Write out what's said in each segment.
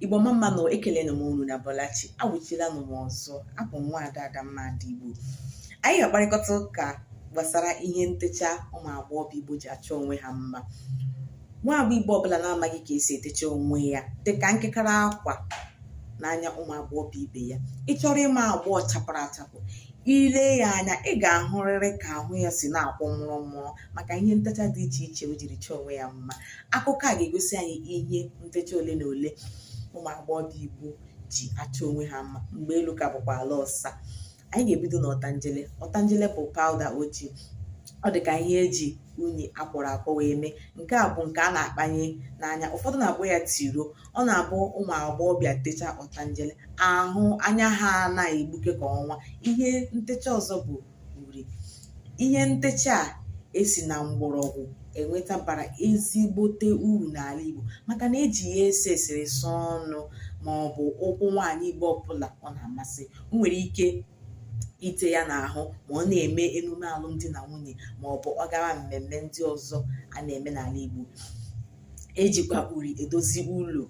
Igbo mma mmanụ ekelere m unu na Bọlachi awụchila m ọzọ abụ m nwaada Adamma Igbo anyị ga-akparịkọta ụka gbasara ihe ntecha ụmụ agbọghọ Igbo ji achọ onwe ha mma nwa agbọ Igbo ọbụla na-amaghị ka esi etecha onwe ya dịka nkekara akwa n'anya ụmụ agbọghọ ibe ya ị chọrọ ịma agbọghọ chapụrụ achapụ i lee ya anya ị ga-ahụrịrị ka ahụ ya si na-akwọ mụrụ mụrụ maka ihe ntecha dị iche iche o jiri chọọ onwe ya mma akụkọ a ga-egosi anyị ihe ntecha ole na ole ụmụ agbọghọ Igbo ji achọ onwe ha mma mgbe elu ka bụkwa ala ọsa anyị ga-ebido na ọtanjele ọtanjele bụ pawụda ojii ọ dị ka ihe eji unyi akwọrọ akwọ wee mee nke a bụ nke a na-akpanye n'anya ụfọdụ na-akpọ ya tiro ọ na-abụ ụmụ agbọghọbịa techa ọtanjele ahụ anya ha ana-egbuke ka ọnwa ihe ntecha ọzọ bụ uri ihe ntecha a esi na mgbọrọgwụ enweta bara ezigbote uru n'ala Igbo maka na eji ya ese eserese ọnụ ma ọ bụ ụkwụ nwaanyị Igbo ọbụla ọ na-amasị o nwere ike ite ya n'ahụ ma ọ na-eme emume alụmdi na nwunye ma ọ bụ ọ gara mmemme ndị ọzọ a na-eme n'ala Igbo ejikwa uri edozi ụlọ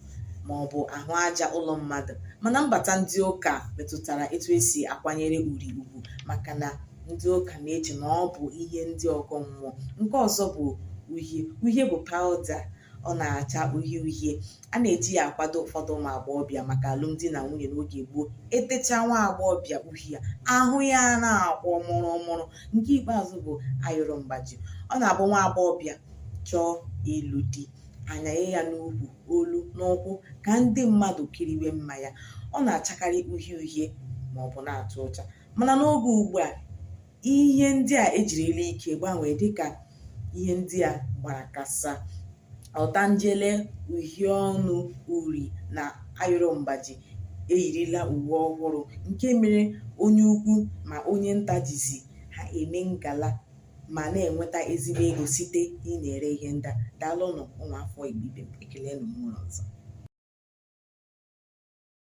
ma ọ bụ ahụ aja ụlọ mmadụ mana mbata ndị ụka metụtara etu esi akwanyere uri ugwu maka na ndị ụka na-eche na ọ bụ ihe ndị ọgọ mmụọ nke ọzọ bụ uhie uhie bụ pawụda ọ na-acha uhie uhie a na-eji ya akwado ụfọdụ ụmụ agbọghọbịa maka alụmdi na nwunye n'oge gboo etecha nwa agbọghọbịa uhie ahụ ya ana-akwọ mụrụ mụrụ nke ikpeazụ bụ ayọrọ mgbaji ọ na-abụ nwa agbọghọbịa chọọ ịlụ di anyanye ya n'ukwu olu na ụkwụ ka ndị mmadụ kiriwe mma ya ọ na-achakarị uhie uhie ma ọ bụ na-atụ ụcha mana n'oge ugbu a ihe ndị a ejirila ike gbanwee dịka ihe ndị a gbara kasaa Ọtanjele, uhie ọnụ uri na ayọrọ mgbaji eyirila uwe ọhụrụ nke mere onye ukwu ma onye nta jizi ha eme ngala ma na-enweta ezigbo ego site n'ịna-ere ihe ndị a. Daalụnụ ụmụafọ Igbo ibe m. Ekelenụ m unu ọzọ.